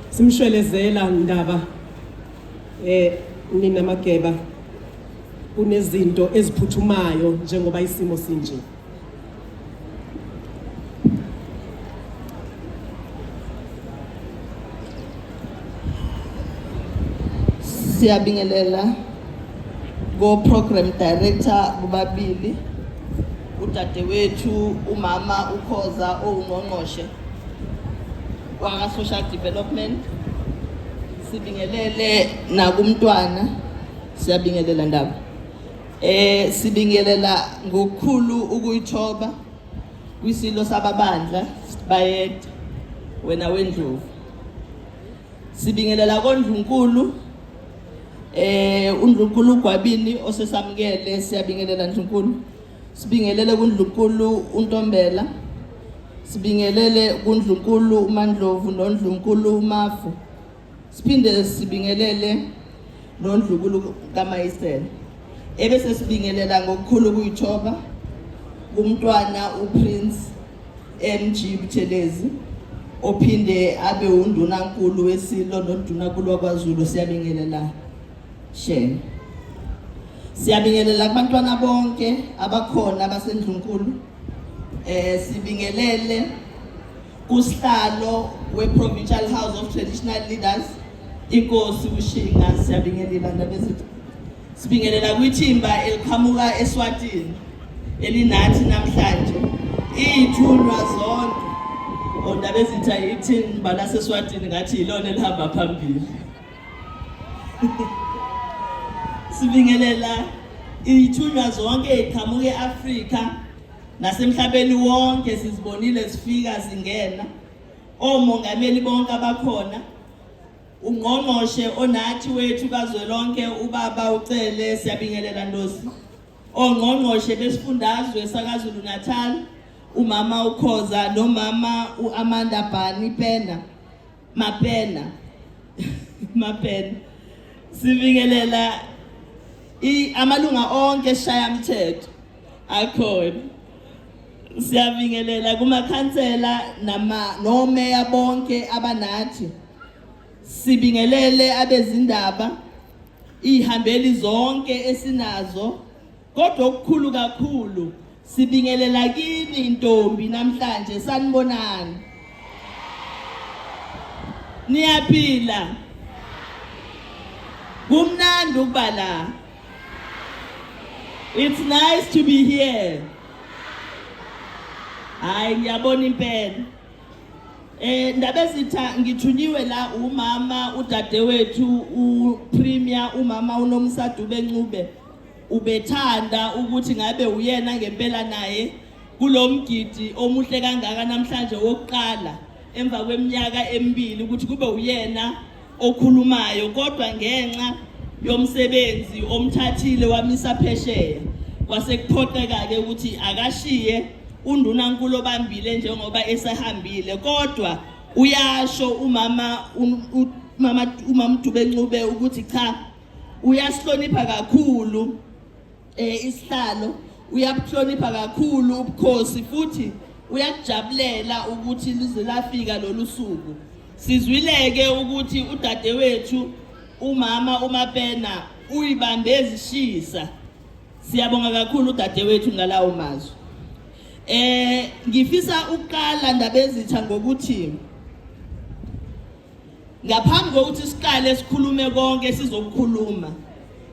simshwelezela ndaba eh nina mageba kunezinto eziphuthumayo njengoba isimo sinje siyabingelela go program director kubabili udadewethu umama ukhoza owungqongqoshe kwaka social development sibingelele nakumntwana siyabingelela ndaba eh sibingelela ngokukhulu ukuyithoba kwisilo sababandla bayede wena wendlovu sibingelela kondlunkulu eh undlunkulu ugwabini osesamukele siyabingelela ndlunkulu Sibingelele kuNdlunkulu uNtombela. Sibingelele kuNdlunkulu uMandlovu noNdlunkulu uMafu. Siphinde sibingelele noNdlunkulu kaMayisela. Ebese sibingelela ngokukhulu kuyithoba kumntwana uPrince MG Buthelezi ophinde abe undunankulu weSilo nondunankulu wakwaZulu siyabingelela. Shame. Siyabingelela kubantwana bonke abakhona abasendlunkulu. Eh sibingelele kusihlalo we-Provincial House of Traditional Leaders inkosi ushinga siyabingelela ndaba zethu sibingelela kwithimba eliqhamuka eswatini elinathi namhlanje iyithunywa zonke ondaba ezitha ithini balaseswatini ngathi yilona elihamba phambili Sibingelela ithunywa zonke eqhamuka e-Afrika nasemhlabeni wonke sizibonile sifika zingena omongameli bonke abakhona ungqongqoshe onathi wethu kazwelonke ubaba uCele siyabingelela Ndosi ongqongqoshe besifundazwe sakaZulu Natal umama uKhoza nomama uAmanda Bani Pena mapena mapena sibingelela amalunga onke eshayamthetho akhona siyabingelela kumakhansela nama nomeya bonke abanathi sibingelele abezindaba ihambeli zonke esinazo Kodwa okukhulu kakhulu sibingelela kini intombi namhlanje sanibonani. Niyaphila. Kumnandi ukuba la. It's nice to be here. Hayi ngiyabona impela. Eh ndaba ezitha ngithunyiwe la umama udadewethu u Premier umama uNomsadube Ncube. ubethanda ukuthi ngabe uyena ngempela naye kulo mgidi omuhle kangaka namhlanje wokuqala emva kweminyaka emibili ukuthi kube uyena okhulumayo kodwa ngenxa yomsebenzi omthathile wamisa phesheya kwasekuphoqeka-ke ukuthi akashiye undunankulu obambile njengoba esehambile kodwa uyasho umama umama uMamdube Ncube ukuthi cha uyasihlonipha kakhulu eh isihlalo uyabuhlonipha kakhulu ubukhosi futhi uyakujabulela ukuthi lize lafika lolu suku sizwileke ukuthi udadewethu umama umapena uyibambe ezishisa siyabonga kakhulu udadewethu ngalawo mazwi eh ngifisa ukuqala ndabezitha ngokuthi Ngaphambi kokuthi siqale sikhulume konke sizokukhuluma.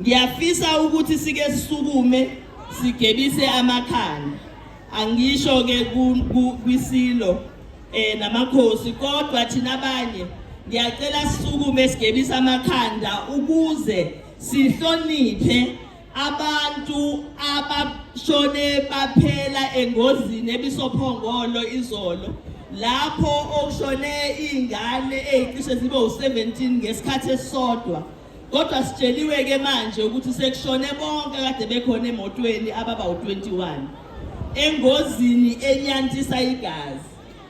Ngiyafisa ukuthi sike sisukume sigebise amakhanda. Angisho ke kwisilo eh namakhosi kodwa thina abanye ngiyacela sisukume sigebise amakhanda ukuze sihloniphe Abantu abashone baphela engozini ebisophongolo izolo lapho okushone izingane ezicishe zibe u17 ngesikhathi esisodwa kodwa sitsheliwe ke manje ukuthi sekushone bonke kade bekhona emotweni ababa u21 engozini enyantisa igazi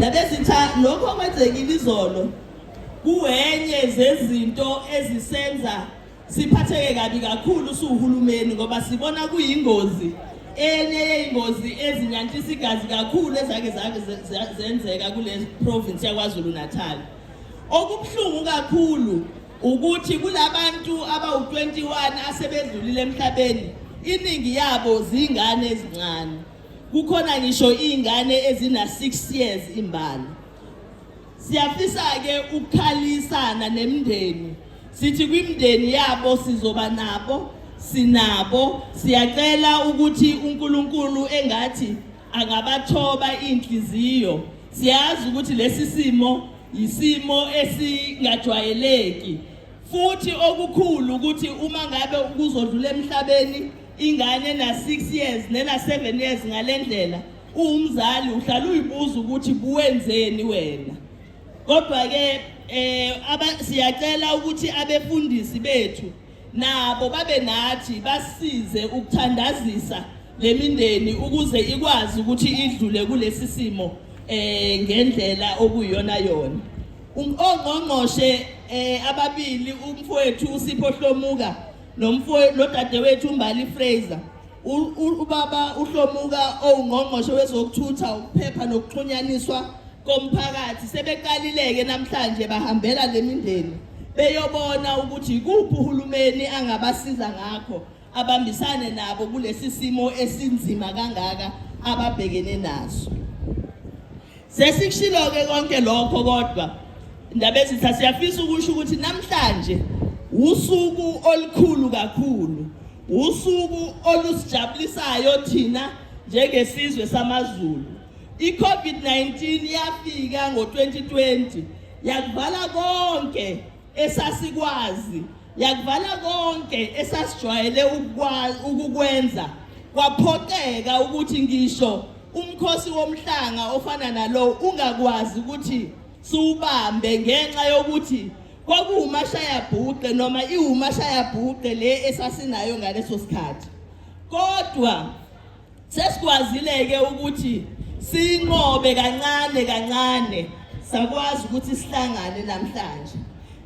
nabezitha lokho okwenzekile izolo kuwenye zezinto ezisenza siphatheke kabi kakhulu suhulumeni ngoba sibona kuyingozi enye yey'ngozi ezinyantisa igazi kakhulu ezake zake zenzeka kule province yakwazulu natal okubuhlungu kakhulu ukuthi kulabantu abawu-21 asebedlulile emhlabeni iningi yabo zingane ezincane kukhona ngisho izingane ezina-6 years imbala siyafisa-ke ukukhalisana nemndeni sithi kwimndeni yabo sizoba nabo sinabo siyacela ukuthi uNkulunkulu engathi angabathoba inhliziyo siyazi ukuthi lesi simo yisimo esingajwayeleki futhi okukhulu ukuthi uma ngabe kuzodlula emhlabeni ingane na 6 years nena 7 years ngalendlela uwumzali uhlala uyibuza ukuthi buwenzeni wena kodwa ke eh siyacela ukuthi abefundisi bethu nabo babe nathi basize ukuthandazisa le mindeni ukuze ikwazi ukuthi idlule kulesi simo um ngendlela okuyiyona yona ongqongqoshe um ababili umfowethu usipho hlomuka nodadewethu umbali fraser Ubaba uHlomuka owungqongqoshe wezokuthutha ukuphepha nokuxhunyaniswa komphakathi sebeqalileke namhlanje bahambela lemindeni beyobona ukuthi ikuphi uhulumeni angabasiza ngakho abambisane nabo kulesi simo esinzima kangaka ababhekene naso Sesikushilo-ke konke lokho kodwa Ndabezitha siyafisa ukusho ukuthi namhlanje usuku olukhulu kakhulu usuku olusijabulisayo thina njengesizwe samaZulu iCovid-19 yafika ngo-2020 yakuvala konke esasikwazi yakuvala konke esasijwayele ukukwenza kwaphoqeka ukuthi ngisho Umkhosi womhlanga ofana nalowo ungakwazi ukuthi siwubambe ngenxa yokuthi kwakuwumashayabhuqe noma iwumashayabhuqe le esasinayo ngaleso sikhathi kodwa sesikwazile-ke ukuthi sinqobe kancane kancane sakwazi ukuthi sihlangane namhlanje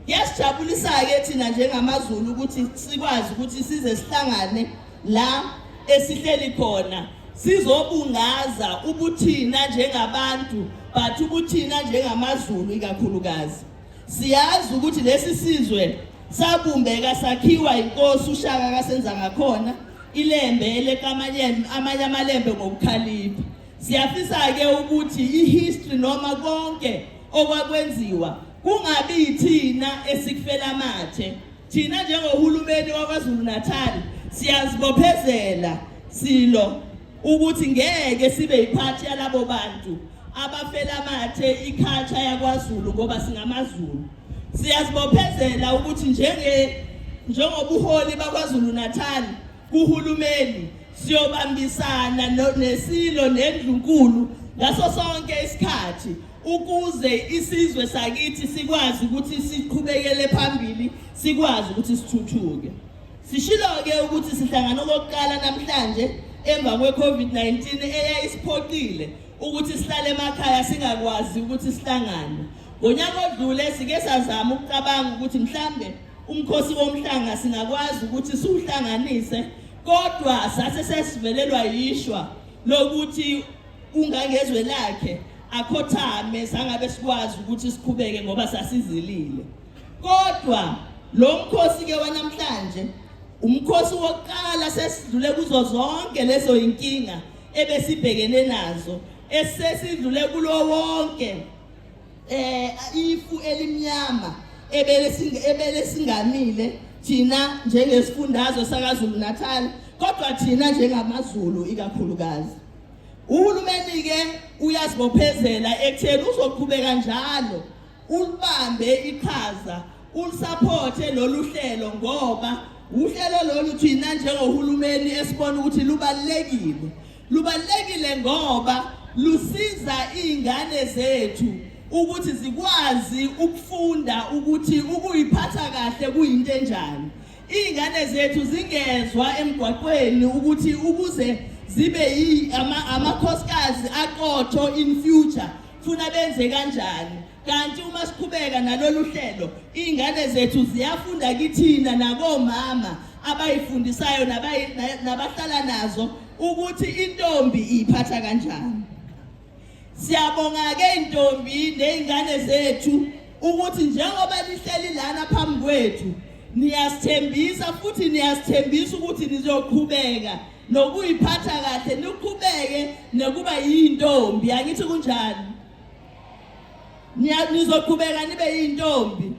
kuyasijabulisa-ke thina njengamazulu ukuthi sikwazi ukuthi size sihlangane la esihleli khona sizobungaza ubuthina njengabantu but ubuthina njengamazulu ikakhulukazi siyazi ukuthi lesi sizwe sabumbeka sakhiwa inkosi ushaka kasenza ngakhona ilembe elekamanye amanye amalembe ngokukhalipha siyafisa ke ukuthi ihistory noma konke okwakwenziwa kungabi yithina esikufela amathe Thina njengohulumeni waKwaZulu-Natal siyazibophezela silo ukuthi ngeke sibe yiphathi yalabo bantu abafela amathe ikhatsha yakwaZulu ngoba singamaZulu. Siyazibophezela ukuthi njenge njengobuholi baKwaZulu-Natal kuhulumeni siyobambisana nesilo nendlunkulu ngaso sonke isikhathi ukuze isizwe sakithi sikwazi ukuthi siqhubekele phambili sikwazi ukuthi sithuthuke sishilo-ke ukuthi sihlangana okokuqala namhlanje emva kwe-covid-19 eyayisiphoqile ukuthi sihlale emakhaya singakwazi ukuthi sihlangane ngonyaka odlule sike sazama ukucabanga ukuthi mhlambe Umkhosi womhlanga singakwazi ukuthi siwuhlanganise kodwa sase sesivelelwa yishwa lokuthi ungangezwe lakhe akhothame sangabe sikwazi ukuthi siqhubeke ngoba sasizilile kodwa lo mkhosi ke wanamhlanje umkhosi wokuqala sesidlule kuzo zonke lezo inkinga ebesibhekene nazo esesidlule kulo wonke eh ifu elimnyama ebele singamile thina njengesifundazwe sakazulu natal kodwa thina njengamazulu ikakhulukazi uhulumeni-ke uyazibophezela ekutheni uzoqhubeka njalo ulibambe iqhaza ulisaphothe lolu hlelo ngoba uhlelo lolu thina njengohulumeni esibona ukuthi lubalulekile Lubalulekile ngoba lusiza izingane zethu ukuthi zikwazi ukufunda ukuthi ukuyiphatha kahle kuyinto enjani. Izingane zethu zingezwa emgwaqweni ukuthi ukuze zibe yi amakhosikazi aqotho in future funa benze kanjani Kanti uma siqhubeka nalolu hlelo, iy'ngane zethu ziyafunda kithina nakomama abayifundisayo nabahlala nazo ukuthi intombi iyiphatha kanjani. Siyabonga-ke intombi ney'ngane zethu ukuthi njengoba lihleli lana phambi kwethu niyasithembisa futhi niyasithembisa ukuthi nizoqhubeka nokuyiphatha kahle niqhubeke nokuba yintombi angithi kunjani nizoqhubeka nibe yintombi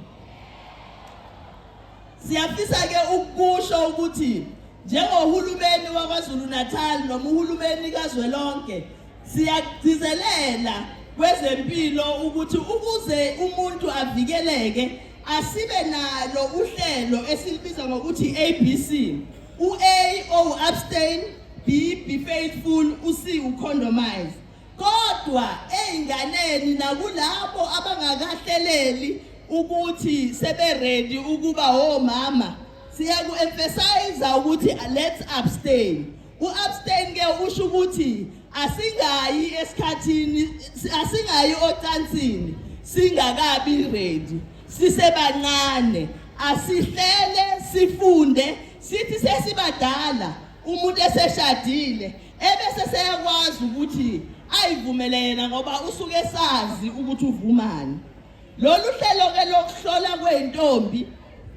siyafisa ke ukusho ukuthi njengohulumeni waKwaZulu Natal noma uhulumeni kazwelonke siyagcizelela kwezempilo ukuthi ukuze umuntu avikeleke asibe nalo uhlelo esilibiza ngokuthi ABC u-A o abstain B be faithful u-C ucondomize Kodwa ezinganeni nakulabo abangakahleleli ukuthi seberedi ukuba omama siyaku-emphasiza ukuthi let's abstain u-abstain ke usho ukuthi asingayi esikhathini asingayi ocansini singakabi ready sisebancane asihlele sifunde sithi sesibadala umuntu eseshadile ebese seyakwazi ukuthi ayivumele yena ngoba usuke esazi ukuthi uvumani lolu hlelo-ke lokuhlola kwey'ntombi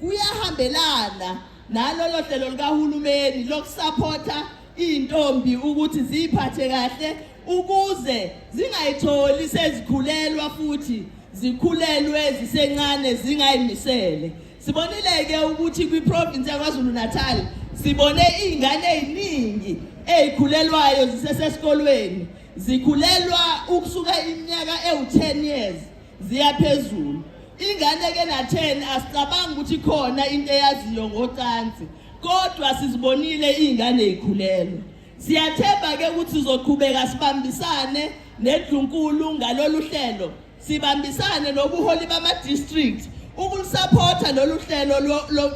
kuyahambelana nalolo hlelo likahulumeni lokusaphotha iy'ntombi ukuthi ziyiphathe kahle ukuze zingayitholi sezikhulelwa futhi zikhulelwe zisencane zingayimisele Sibonile-ke ukuthi kwiprovinsi yaKwaZulu-Natal sibone iy'ngane ey'ningi ey'khulelwayo zisesesikolweni zikhulelwa ukusuka iminyaka ewu-10 years ziya phezulu ingane ke na-10 asicabangi ukuthi khona into eyaziyo ngocansi kodwa sizibonile iy'ngane y'khulelwa siyathemba-ke ukuthi sizoqhubeka sibambisane nedlunkulu ngalolu hlelo Sibambisane nobuholi bama-district ukulisaphotha lolu hlelo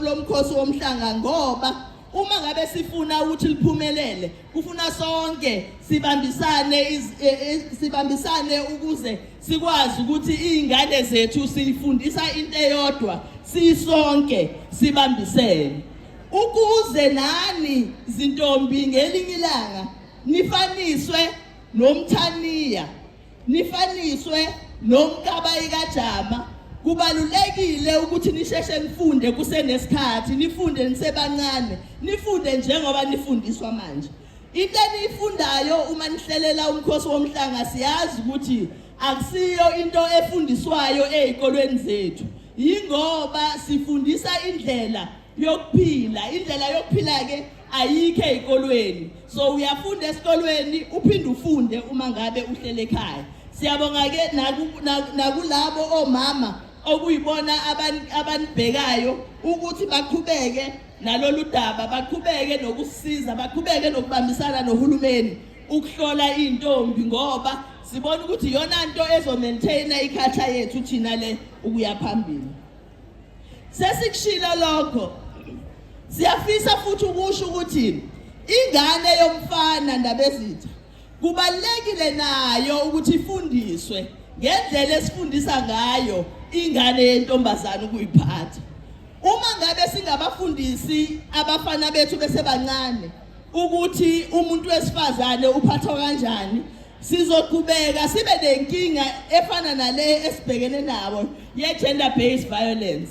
lomkhosi womhlanga ngoba uma ngabe sifuna ukuthi liphumelele kufuna sonke sibambisane e, e, sibambisane ukuze sikwazi ukuthi izingane zethu sifundisa into eyodwa sisonke sibambisene ukuze nani zintombi ngelinye ilanga nifaniswe nomthaniya Nifaniswe nomkabayi kajama kubalulekile ukuthi nisheshe nifunde kusenesikhathi nifunde nisebancane nifunde njengoba nifundiswa manje into eniyifundayo uma nihlelela umkhosi womhlanga siyazi ukuthi akusiyo into efundiswayo ezikolweni zethu yingoba sifundisa indlela yokuphila indlela yokuphila ke ayikho ezikolweni so uyafunda esikolweni uphinde ufunde uma ngabe uhlele ekhaya siyabonga ke nakulabo omama okuyibona abanibhekayo ukuthi baqhubeke nalolu daba baqhubeke nokusiza baqhubeke nokubambisana nohulumeni ukuhlola iy'ntombi ngoba sibona ukuthi iyona nto ezomaintaina ikhatha yethu thina le ukuya phambili Sesikushilo lokho. Siyafisa futhi ukusho ukuthi ingane yomfana ndabezitha kubalekile nayo ukuthi ifundiswe ngendlela esifundisa ngayo ingane yentombazana ukuyiphatha. Uma ngabe singabafundisi abafana bethu besebancane ukuthi umuntu wesifazane uphathwa kanjani sizoqhubeka sibe nenkinga efana nale esibhekene nabo ye-gender based violence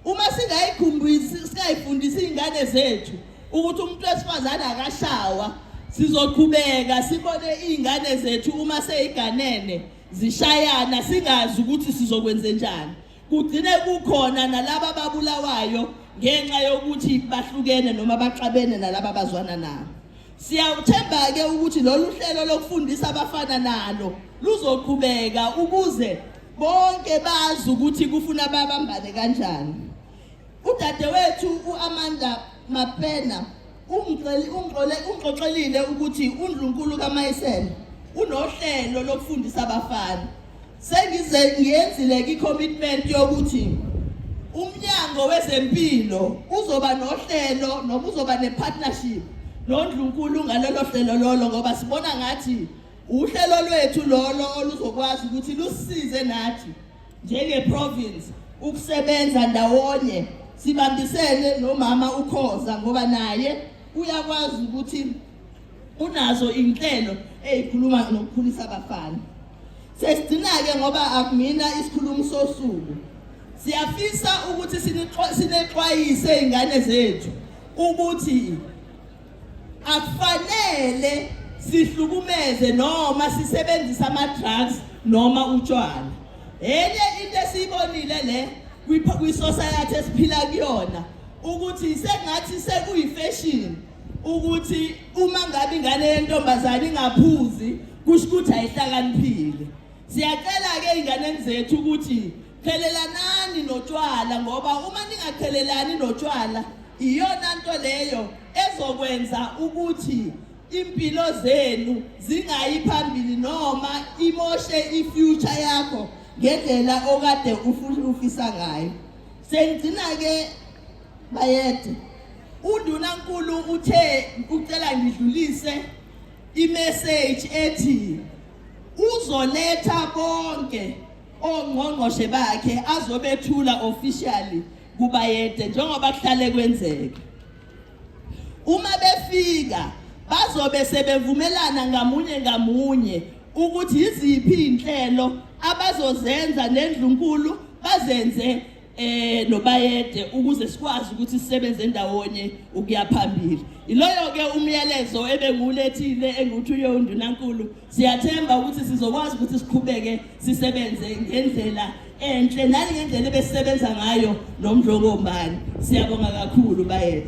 uma singayifundisi iy'ngane zethu ukuthi umuntu wesifazane akashawa sizoqhubeka sibone iy'ngane zethu uma seyiganene zishayana singazi ukuthi sizokwenze njani Kugcine kukhona nalaba babulawayo ngenxa yokuthi bahlukene noma baxabene nalaba bazwana nabo. Siyawuthemba-ke ukuthi lolu hlelo lokufundisa abafana nalo luzoqhubeka ukuze bonke bazi ukuthi kufuna babambane kanjani. Udadewethu u-Amanda Mapena Ungixolele ukuthi uNdlunkulu kaMayisela unohlelo lokufundisa abafana. Sengize ngiyenzile i-commitment yokuthi umnyango wezempilo uzoba nohlelo noma uzoba ne-partnership noNdlunkulu ngalolo hlelo lolo ngoba sibona ngathi uhlelo lwethu lolo oluzokwazi ukuthi lusize nathi njengeprovince ukusebenza ndawonye sibambisene nomama ukhoza ngoba naye uyakwazi ukuthi unazo inhlelo ezikhuluma nokukhulisa abafana sesigcina-ke ngoba akumina isikhulumi sosuku siyafisa ukuthi sinexwayise izingane zethu ukuthi akufanele sihlukumeze noma sisebenzise ama-drugs noma utshwala enye into esiyibonile le kwisosayathi esiphila kuyona ukuthi sengathi sekuyifeshini ukuthi uma ngabe ingane yentombazane ingaphuzi kusho ukuthi ayihlakaniphile siyacela-ke ey'nganeni zethu ukuthi Qhelelanani notshwala ngoba uma ningaqhelelani notshwala iyona nto leyo ezokwenza ukuthi impilo zenu zingayi phambili noma imoshe ifuture yakho ngendlela okade ufisa ngayo sengigcina ke bayede undunankulu uthe ucela ngidlulise imessage ethi uzoletha bonke ongqongqoshe bakhe azobethula officially kubayede njengoba kuhlale kwenzeka uma befika bazobe sebevumelana ngamunye ngamunye ukuthi yiziphi izinhlelo abazozenza nendlunkulu bazenze eh nobayede ukuze sikwazi ukuthi sisebenze ndawonye ukuya phambili iloyo ke umyalezo ebengulethile enguthi uyo undunankulu siyathemba ukuthi sizokwazi ukuthi siqhubeke sisebenze ngendlela enhle nali ngendlela ebesisebenza ngayo nomdlokombani siyabonga kakhulu bayede